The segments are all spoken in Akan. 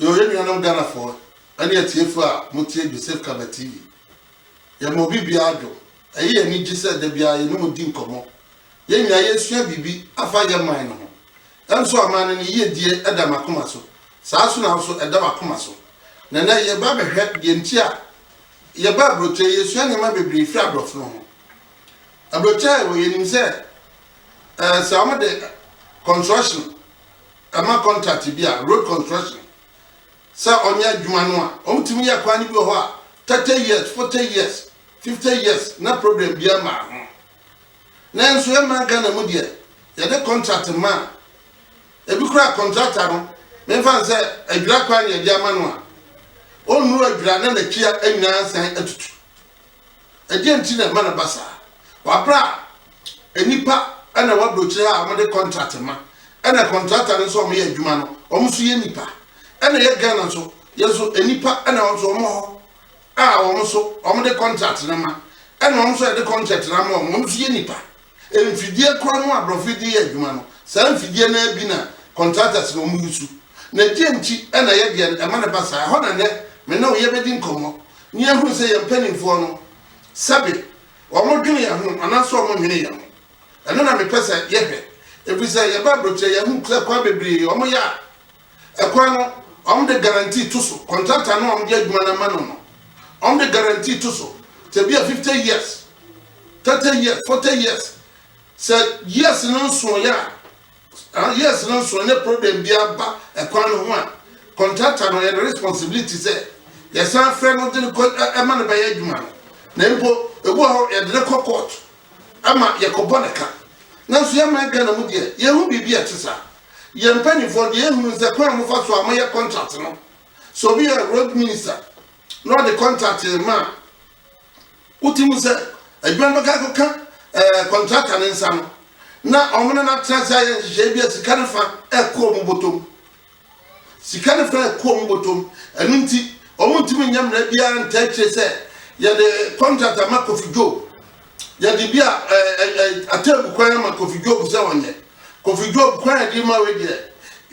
Yo, yɛn nuanom Ghanafoɔ ɛne atiefoɔ a motie Joseph Kaba TV. Yɛma obi biara dwom. Ɛyɛ yɛn anigye sɛ da biara yɛne mo di nkɔmmɔ. Yɛn nyinaa yɛresua biribi afa yɛn man no ho. Ɛnso aman no ne yiedie ɛda m'akoma so. Saa ara nso na wo nso ɛda w'akoma so. Na ɛnnɛ yɛreba abɛhwɛ deɛ nti a yɛba aburokyire. Yɛresua nneɛma bebree firi aborɔfo no ho. Aburokyiaeɛ wɔ yɛnim sɛ ɛɛ sɛ wɔn de construction ɛma contract bi a road construction sɛ ɔnyɛ adwuma no a wɔn tumi yɛ kwan no bi wɔ hɔ a thirty years forty years fifty years na problem bi ama ho nanso ɛma Ghana mu deɛ yɛde contract ma ebi kura contractor no memfa n sɛ adwira kwan yɛde ama no a ɔnnuru adwira na n'akyia nyinaa san atutu Ɛdeɛn nti na ɛma no ba saa? Wabrɛ a, nnipa na ɛwɔ aburokyire ha a wɔde kɔntrat ma, ɛna kɔntrata no nso a wɔyɛ adwuma no, wɔn nso yɛ nnipa. Ɛna ɛyɛ Ghana nso, yɛn nso nnipa na wɔn nso wɔn wɔ hɔ a wɔn nso wɔde kɔntrat no ma, ɛna wɔn nso a yɛde kɔntrat no ama wɔn, wɔn nso yɛ nnipa. Mfidie korɔ no a brɔfo yi de yɛ adwuma no, saa mfidie no ara bi na contractors na wɔn usu. Na deɛ nti na yɛ deɛ no ɛma no ba saa? Ɛhɔ na nnɛ me ne wo yɛ bɛdi nkɔmmɔ na yɛ ahunu sɛ yɛn mpaninfoɔ no sɛbe wɔn dwene yɛn ho anaasɛ wɔn nnwene yɛn ho. Ɛno na me pɛ sɛ yɛ hwɛ. Ɛfiri sɛ yɛ ba abrokyire yɛ ahunu sɛ kwan bebree wɔn yɛ a, Ɛkwan no, wɔde guarantee to so. Contractor no a wɔde adwuma no ama no no, wɔde guarantee to so. Sɛ bi a fifty years, thirty years, forty years. Sɛ years no nsoeɛ a, years no nsoeɛ ne problem bi aba ɛkwan no ho a, contractor no yɛ ne responsibility sɛ yɛsan frɛ no de no kɔ ɛma no bɛyɛ adwuma no. Na mpo ebi wɔ hɔ yɛde no kɔ court ama yɛkɔbɔ ne ka. Nanso yɛn man Ghana mu deɛ yɛn ho biribi a ɛte saa. Yɛn mpaninfoɔ deɛ yɛhunu ne sɛ kwan a mofa so a moyɛ contract no, sɛ obi yɛ road minister na ɔde contract rema a, wote mu sɛ adwuma no bɛka akɔka ɛɛ contractor ne nsa no na wɔn ne no atena ase ayɛ nhyehyɛe bi a sika no fa ɛkɔ wɔn bɔtɔm. Sika no fa ɛkɔ wɔn bɔtɔm. Ɛno nti, wɔntumi nyɛ mmerɛ biara ntaa akyire sɛ yɛde contract ama Kofi Joe. yɛde bi a atebu kwan ama kofi job sɛ ɔnyɛ kofi job kwan yɛde ma wei deɛ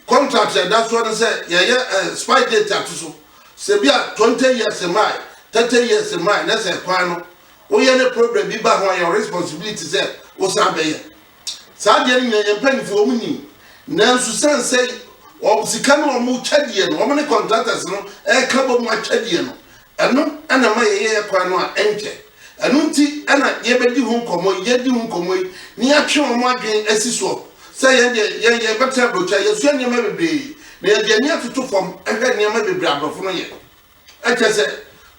contract yɛda soɔ no sɛ yɛyɛ spy date ato so sɛ bi a 20 years mae 30 years mae na sɛ kwan no woyɛ ne problem bi ba ho a yɛ responsibility sɛ wosan bɛyɛ saa adeɛ no nyina yɛn mpanyinfoɔ wɔn nim nanso sɛn sɛ wɔn sika no wɔn kyɛ deɛ no wɔn ne contractors no ɛka bɔ mu akyɛ deɛ no ɛno ɛna ma yɛyɛ yɛ kwan no a ɛnkyɛ ɛno nti ɛna yɛbɛdi ho nkɔmɔ yi yɛdi ho nkɔmɔ yi ne yɛatwe wɔn adwene asi soɔ sɛ yɛn deɛ yɛn yɛn bɛtena aburokyi a yɛsua nneɛma bebree na yɛde ani atoto fam ɛhwɛ nneɛma bebree aborɔfo no yɛ. Kyerɛ sɛ,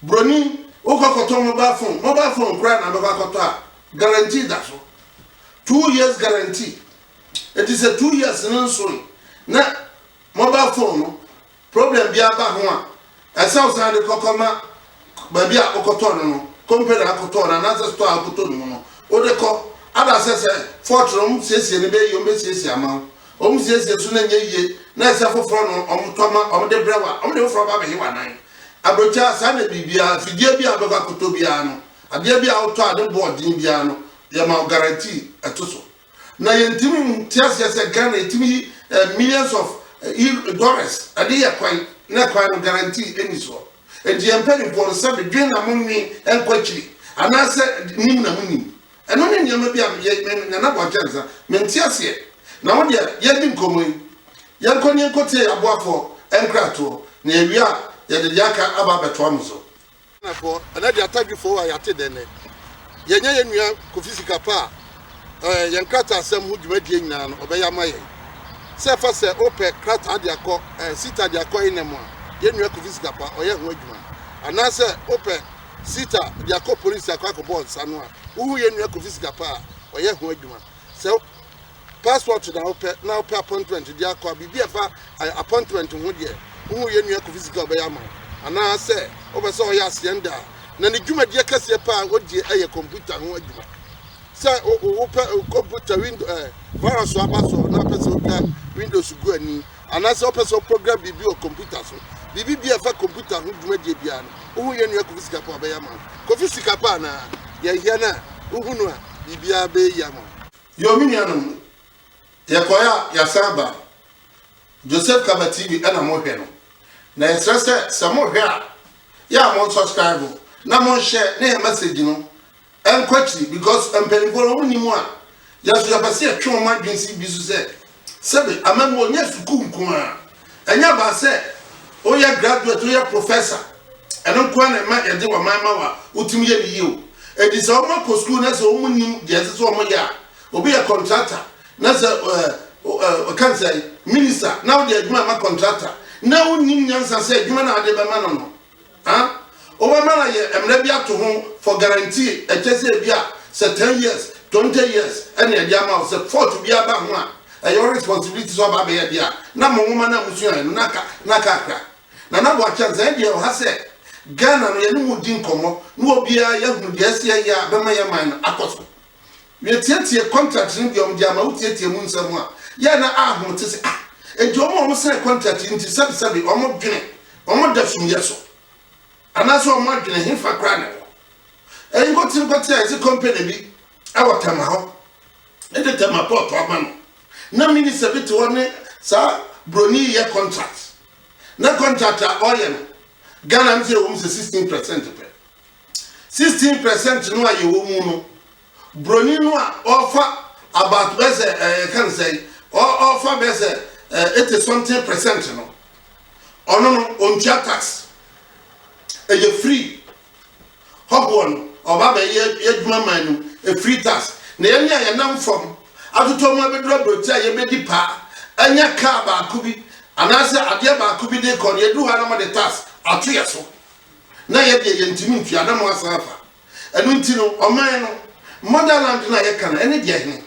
broni, wokɔ kɔtɔ mobile phone, mobile phone koraa na bɛkɔ akɔtɔ a, guarantee da so. Two years guarantee. Enti sɛ two years no nsoe na mobile phone no problem biara ba ho a, ɛsɛ wo san de kɔ kɔma baabi a wokɔtɔɔ no no, company a wokɔtɔɔ no anaasɛ store a wokɔtɔ no mu no, wode kɔ. Ada sɛ sɛ fault no wɔsiesie no bɛyɛ yie, wɔbɛsiesie ama wo. Wɔn siesie so no nyɛ yie na ɛsɛ foforɔ no wɔn tɔ ma wɔn de brɛ wo a, wɔn de foforɔ ba abɛhe w'anan. Aburokyire a saa na biribiara, mfidie bi a wobɛkɔ akɔtɔ biara no, adeɛ bi a wotɔ a ne bo wɔ den biara no, yɛma wo guarantee ɛto so. Na yɛntumi nte aseɛ sɛ Ghana yɛtumi yi eh, millions of eh, euro- dollars ɛde yɛ kwan na kwan no guarantee ɛni soɔ. Enti yɛn mpanimfoɔ no sɛbe dwen na monwen ɛnkɔ akyiri anaasɛ nim na monim. Ɛno ne nneɛma bi a me yɛ me Nana Boakye Ansah, mente aseɛ. Na wo deɛ yɛdi nkɔmmɔ yi, yɛnkɔ ne yɛnkɔ tie aboafoɔ nkratoɔ, na yɛwie a yɛde deɛ aka aba abɛtoa mo so. Ghanafoɔ, ɛnɛ deɛ Atadwifoɔ a yɛate dɛn nnɛ? Yɛnya yɛn nua Kofi Sikapa a, ɛɛ, yɛn krataasɛm ho dwumadie nyinaa no, ɔbɛyɛ ama yɛn. Sɛ ɛfa sɛ wopɛ krataa de akɔ, ɛɛ, SETA de akɔ INEM a, yɛn nua Kofi Sikapa, ɔyɛ ho adwuma. Anaasɛ wopɛ. Sita de akɔ police akɔ akɔbɔ nsa no a wohu yɛn nua Kofi sika pa a ɔyɛ ho adwuma sɛ passport na wopɛ na wopɛ appointment de akɔ a biribi a ɛfa appointment ho deɛ wohu yɛn nua Kofi sika ɔbɛyɛ ama wo anaa sɛ wopɛ sɛ ɔyɛ aseɛnda a na ne dwumadie kɛseɛ paa a ɔdie ɛyɛ computer ho adwuma sɛ wopɛ computer window eh, virus aba so na wopɛ sɛ wotwa windows gu ani Anaasɛ wopɛ sɛ woprogram biribi wɔ kɔmputa so? Biribi biara a ɛfa kɔmputa ho dwumadie biara no, wohu yɛn nua Kofi Sikapo a, ɔbɛyɛ ama wo. Kofi Sikapo anaa? Yɛhia no a, wohu no a, biribiara bɛyɛ yie ama wo. Yoo me nuanom, yɛkɔeɛ a yɛasan ba. Joseph Kaba TV na mohwɛ no. Na yɛsrɛ sɛ, sɛ mohwɛ a, yɛ a monsɔskraibo na monhyɛɛ ne yɛn mɛsegyi no. ɛnkɔ akyiri because mpanyinfoɔ no wɔn nim a yɛso yɛpɛ sɛ yɛtwe wɔn adwene si bi so sɛ sɛbi amammuo nyɛ sukuu nko ara ɛnyɛ abaa sɛ woyɛ graduate woyɛ professor ɛno nko ara na ɛma yɛde wɔn man ma wa wotumi yɛ ne yie o edi sɛ wɔn akɔ sukuu na sɛ wɔn nim deɛ ɛsɛ sɛ wɔn yɛ a obi yɛ contractor na sɛ ɛɛ ɔka nsɛn minister na wɔde adwuma ma contractor na wɔn nim nyansa sɛ adwuma na wɔde bɛma no no. Huh? Wobɛma no ayɛ mmrɛ bi ato ho for guarantee ɛkyɛ sɛ ebi a sɛ ten years, twenty years ɛna yɛde ama wo sɛ fault biara ba ho a ɛyɛ wo responsibility sɛ ɔba abɛyɛ adeɛ a na mo nwoma no a mosuaeɛ no na ka na ka akra. Nana Boakye Ansah ɛndeɛ ɔha sɛ Ghana no yɛne mo redi nkɔmmɔ na obiara yɛahunu deɛ ɛsɛ yɛyɛ a ɛbɛma yɛn man no akɔ so. Metiatia contract no deɛ wɔde ama wo tiatia mu nsɛm a yɛ na ahom te sɛ ah enti wɔn a wɔn sign contract yi nti sɛbi sɛbi wɔn dwene wɔn da sum yɛ so anaasɛ wɔn adwene he fa koraa na ɛwɔ ɛyi nkɔte nkɔte a yɛsi company bi ɛwɔ tɛma hɔ ɛde tɛma pɔtɔ ama no na minister bi te hɔ ne saa broni yɛ contract na contract a ɔyɛ no Ghana no sɛ ɛwɔ mu sɛ sixteen percent pɛ. 16 per cent no a yɛwɔ mu no, broni no a ɔrefa about bɛyɛ sɛ ɛɛ yɛka no sɛ ɔrefa bɛyɛ sɛ ɛɛ eighty something per cent no, ɔno no ɔntua tax. Ɛyɛ free. Hɔhoɔ no ɔba bɛyɛ adwuma man no ɛfiri tax. Na yɛne a yɛnam fam atotɔ mu abɛduru aburokyi a yɛbɛdi paa ɛnyɛ kaa baako bi anaasɛ adeɛ baako bi de kɔ no yɛduru hɔ a na wɔde tax ato yɛ so. Na yɛ deɛ yɛntumi ntua na mo asan afa. Ɛno nti no, ɔman no, motherland no a yɛka no, ɛne deɛ he?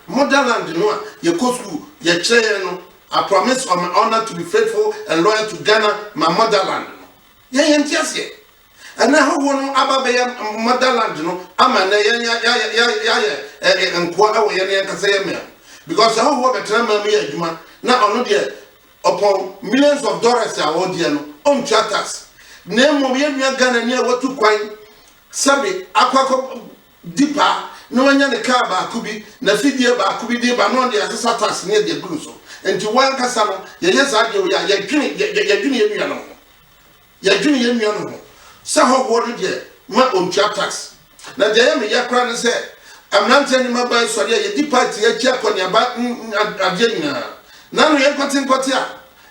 Motherland no a yɛkɔ sukuu, yɛkyerɛ yɛn no, I promise on my honour to be faithful and loyal to Ghana, my motherland no. Yɛn yɛnte aseɛ. Ɛnnɛ ahɔhoɔ no aba abɛyɛ motherland no ama nnɛ yɛn yɛ, yɛ, yɛ, yɛ, yɛayɛ ɛ, ɛ, nkoa wɔ yɛn yɛn ankasa yɛn man mu. Because ahɔhoɔ bɛtena man mu yɛ adwuma, na ɔno deɛ, Ɔpɔn millions of dollars a ɔdeɛ no, ɔntua tax. Na mmom yɛn nua Ghanani a watu kwan sɛbe akɔ akɔ di paa na wanya ne kaa baako bi, n'afidie baako bi de ba na ɔde asesa tax ne de agu no so. Nti wɔn ankasa no, yɛyɛ saa deɛ wei a, yɛdwene yɛdwene yɛn nua no ho. Yɛdwene yɛn nua no ho sɛ hɔhoɔ no deɛ ma ɔntua tax. Na deɛ ɛyɛ me ya koraa ne sɛ mmeranteɛ ne mmabaa yi sɔre a yɛdi party akyi akɔneaba ne adeɛ nyinaa. Na ano yɛ nkɔtenkɔte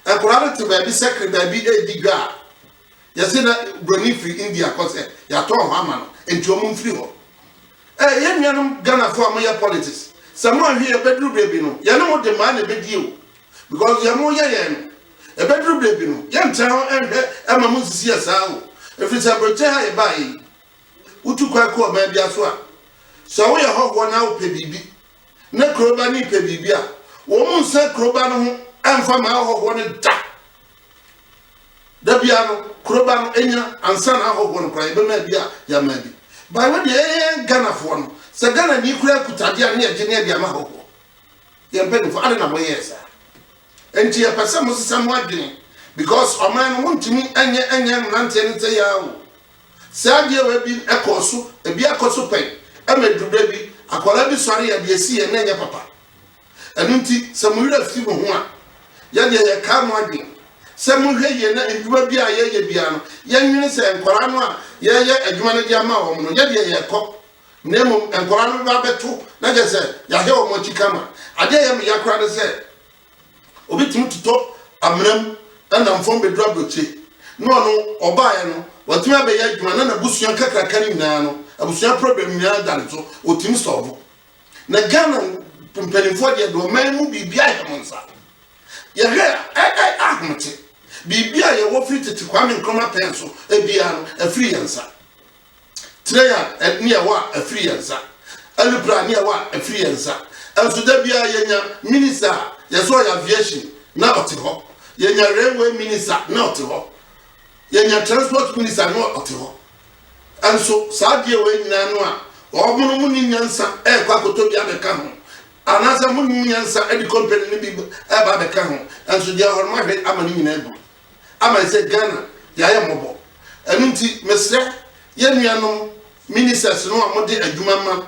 a nkwadaa no te baabi sakre baabi redi dwa a yɛse na buroni firi India kɔ sɛ yɛatɔn hɔ ama no nti wɔn mfiri hɔ. Ɛɛ yɛn nuanom Ghanafoɔ a moyɛ politics sɛ moanhwɛ yɛ bɛduru baabi no yɛne mo de maa na ɛbɛdie o. Because deɛ mo yɛ yɛn no, ɛbɛduru berɛ bi no, yɛn ntra hɔ nhwɛ ɛma mo nsisi yɛ saa o. Ɛfiri sɛ aburokyire ha yɛ baeɛ yi, wo tu kwan kɔ ɔman bia so a, sɛ wo yɛ hɔhoɔ na wo pɛ biribi, na kuro ba no pɛ biribi a, wɔn mo nsa kuro ba no ho ɛnfa ma ahɔhoɔ no da. Da bia no, kuro ba no ɛnya ansa na ahɔhoɔ no kora yɛbɛma bi a yɛama bi. Baewa deɛ ɛyɛ Ghanafoɔ no, sɛ Ghana ni kura kutadeɛ a ne yɛgye ne ɛde ama ahɔhoɔ. Yɛn mpanyimfo, adɛn na moyɛɛ saa? Enti yɛpɛ sɛ mosesa mo adwene, because ɔman no montumi nyɛ nyɛ mmeranteɛ no sɛi ara o. Saa adeɛ wei bi kɔɔ so, ebi akɔ so pɛn, ɛma ɛduru berɛ bi, akwadaa bi sɔre yɛ deɛ ɛsi yɛn na ɛnyɛ papa. Ɛno nti, sɛ mo werɛ fi mo ho a, yɛ deɛ yɛkaa mo adwene sɛ monhwɛ yie na nnwuma biara a yɛyɛ biara no, yɛnwene sɛ nkwadaa no a yɛreyɛ adwuma no de ama wɔn no, yɛ deɛ yɛrekɔ. Na mmom nkwadaa no bɛba abɛto, na kyerɛ sɛ yɛahwɛ wɔn akyi kama. Adeɛ a ɛyɛ me ya koraa ne sɛ, obi tumi totɔ amena mu nam fam bɛduru aburokye, na ɔno ɔbaeɛ no, watumi abɛyɛ adwuma na n'abusua nkakraka no nyinaa no, abusua problem nyinaa da ne so, ɔtumi sɔɔvo. Na Ghana mpanimfoɔ deɛ, deɛ ɔman mu biribiara hyɛ mo nsa. Yɛhwɛ a, ɛ, ɛ, ahomete. Biribiara yɛwɔ firi tete Kwame Nkrumah pɛn so biara no, ɛfiri yɛn nsa. Kyerɛ yɛn nea ɛwɔ a ɛfiri yɛn nsa, ɛne pira nea ɛwɔ a ɛfiri yɛn nsa. Nso da biara yɛnya minista a yɛsɛ ɔyɛ aviation na ɔte hɔ, yɛnya railway minista na ɔte hɔ, yɛnya transport minista na ɔte hɔ. Nso saa adeɛ wei nyinaa no a wɔn mu ni nyansa ɛrekɔ akɔtɔ bi abɛka ho anaasɛ mo nyansa ɛde company no bi ɛreba abɛka ho nso deɛ ɔhɔrɔma hwɛ ama ne nyinaa gu. ama nsɛ Ghana yayɛ mmɔbɔ ɛno nti mesrɛ yɛ nuanom ministers no a mode adwuma ma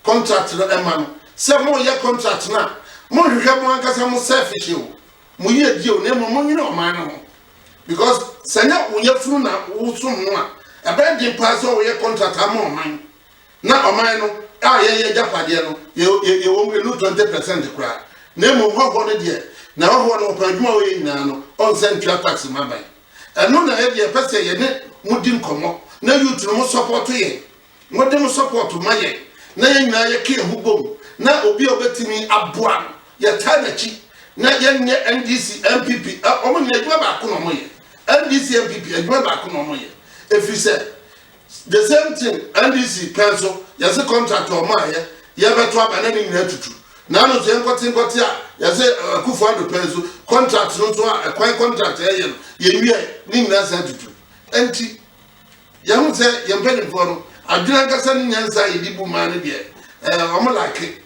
contract no ɛma no sɛ mo yɛ contract no a mo nhwehwɛ mo ankasa mo selfish o mo yie die o na mmom mo nwene ɔman no ho because sɛ nyɛ wo yɛ funu na wo som no a ɛbɛyɛ den paa sɛ wɔyɛ contract ama ɔman Na ɔman no a yɛn yɛ agyapadeɛ no, yɛ, yɛ, yɛwɔ mu ɛnu twenty percent koraa. Na mmom hɔhoɔ no deɛ, na hɔhoɔ no ɔpɛ adwuma a ɔyɛ nyinaa no, ɔnsɛ ntua tax mma aban. Ɛno na yɛdeɛ yɛpɛ sɛ yɛne mo di nkɔmmɔ, na youth no mo support yɛn, mode mo support ma yɛn, na yɛn nyinaa yɛka yɛn ho bom, na obi a ɔbɛtumi aboa no, yɛtaa n'akyi, na yɛnyɛ NDC, NPP, ɛ, wɔn nyinaa adwuma baako na wɔyɛ, NDC, NPP, adwuma baako na wɔyɛ, ɛfiri sɛ, The same thing NDC pɛ nso, yɛse contract a ɔmaayɛ yɛbɛto aba na ne nyinaa tutu. Naano nso yɛnkɔte nkɔte a yɛse Akufo Addo pɛ nso contract no nso a ɛkwan contract a yɛyɛ no yɛnwiae ne nyinaa saa tutu. Ɛnti yɛhu sɛ yɛn mpanimfoɔ no adwene ankasa ne nyansa a yɛde bu maa no deɛ ɛɛ wɔn lake.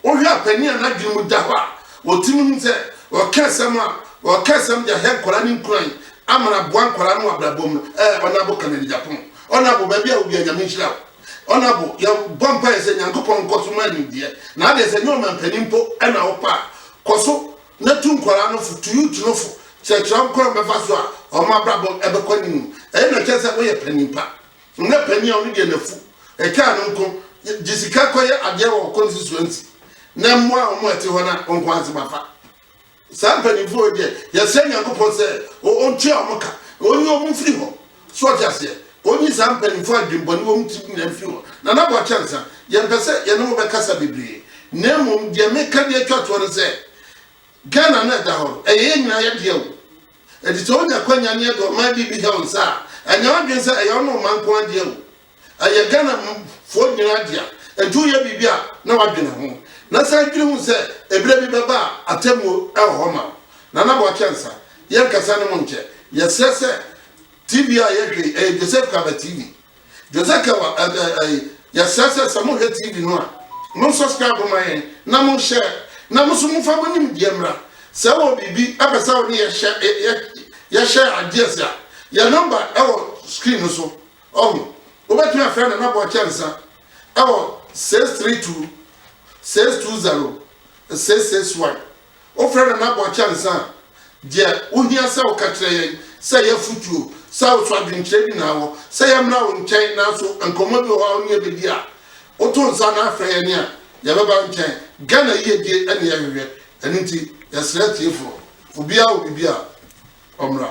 Wohwɛ a panin a n'adwene mu da hɔ a otumi hu sɛ ɔka asɛm a ɔka asɛm de ahyɛ nkwadaa ne nkuran ama aboa nkwadaa no wɔ abrabɔ mu no, ɛɛ ɔnabo ka n'ani gyapon. Ɔnabo baabi a wobia Nyame nhyira wo. Ɔnabo yɛbɔ mpaeɛ sɛ Nyankopɔn nkɔ so ma nimdeɛ. Na adeɛ sɛ nyɛ ɔmampanin mpo na wopɛ a, kɔ so na tu nkwadaa no fo, tu youth no fo, kyerɛkyerɛ wɔn kwan a wɔbɛfa so a wɔn abrabɔ bɛkɔ anim. Ɛyɛ na ɛkyerɛ sɛ woyɛ panin pa. Nna panyin a ɔno deɛ n'afu ɛkaa no nko gye sika kɔyɛ adeɛ wɔ ɔkɔ no si soɔ nti, na mmoa a wɔn a ɛte hɔ no a ɔnko ase ma fa. Saa mpanimfoɔ wei deɛ, yɛsrɛ Nyankopɔn sɛ ɔntua wɔn ka, na ɔnyi wɔn mfiri hɔ. So ɔte aseɛ? Ɔnyi saa mpanimfoɔ a adwemmɔne wɔ wɔn tirim nyinaa mfiri hɔ. Nana Boakye Ansah, yɛmpɛ sɛ yɛne wo bɛkasa bebree, na mmom deɛ meka de atwa toɔ ne sɛ, Ghana no a ɛda hɔ no, ɛyɛ yɛn nyinaa yɛdeɛ o. Enti sɛ wonya akwanya ne yɛde ɔman bi bi hyɛ wo nsa a, ɛnyɛ w'adwene sɛ ɛyɛ wo ne wo man nko ara dea o. Ɛyɛ Ghanafoɔ nyinaa dea. Enti woyɛ biribi a, na woadwene ho. Na san dwene hu sɛ ɛberɛ bi bɛba a atemmuo wɔ hɔ ma wo. Nana Boakye Ansah, yɛnkasa ne monkyɛ. Yɛsrɛ sɛ TV a yɛhwɛ yi, ɛyɛ Joseph Kaba TV. Jose Kewa, Yɛsrɛ sɛ sɛ mohwɛ TV no a, mo subscribe mma yɛn na mo share na mo nso momfa mo nimdeɛ mmra. Sɛ wowɔ biribi pɛ sɛ wo ne yɛ share ideas a, yɛn number wɔ screen no so. Ɔho, wobɛtumi afrɛ Nana Boɔ Kyɛnsa wɔ 632 620 661. Wofrɛ no na bɔ kyɛnse a, deɛ wohia sɛ woka kyerɛ yɛn sɛ yɛ afotuo, sɛ wo so adwenkyerɛ bi na awɔ sɛ yɛmmra wo nkyɛn nanso nkɔmmɔ bi wɔ hɔ a wo ne yɛ bɛdi a, woto nsa na afrɛ yɛn a, yɛbɛba wo nkyɛn. Ghana yiedie na yɛhwehwɛ, ɛno nti yɛsrɛ atiefoɔ, obiara wɔ biribi a, ɔmmra.